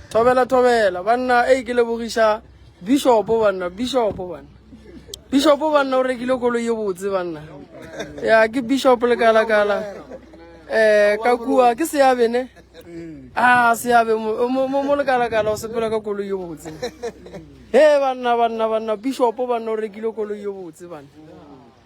thobela thobela banna e ke lebogiša bishopo banna bishopo banna bishopo banna o rekile kolo ye botse banna ya ke bishop le kala kala eh ka kua ke seabe ne a ah, seabe mo le kala kala o sepela ka kolo ye botse he banna banna banna bishopo banna o rekile kolo ye botse banna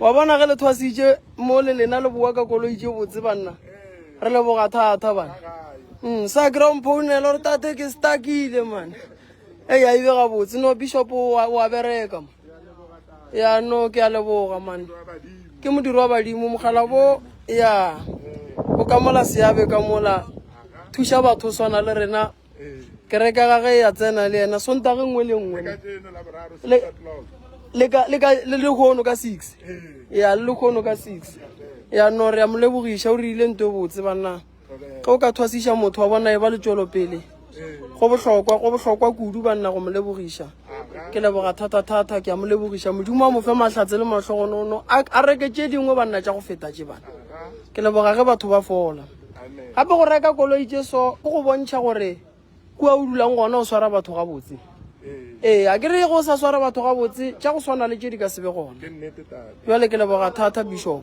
wa bona ge le thwasitše mo le lena le boa ka koloi tše botse banna re leboga thata bana mm, sa kry-a mphounela gore tate ke stakile mane e ya ibe gabotse no bishop wa bereka ma ya no ke a leboga mane ke modiri wa badimo mogala bo ya o ka mola seabe ka mola thuša batho swana le rena kereka ga ge ya tsena le yena sontage nngwe le nngwe le lekgono ka six ya le lekgono ka six ya no re ya mo lebogiša o rile nto e botse banna ge o ka thwasiša motho wa bona e ba letšwelopele go bohlokwa go bohlokwa kudu banna go mo lebogiša ke leboga thata-thata ke ya mo lebogiša modimo wa mofe mahlatse le mahlogonono a reke tše dingwe banna tša go feta tše bana ke leboga ge batho ba fola Gape go reka koloi tše so go go bontšha gore kua o dulang gona o swara batho gabotse. Ee, a ke re go sa swara batho gabotse, tša go swana le tše di ka se be gona. Bjale ke leboga thata, Bishopo.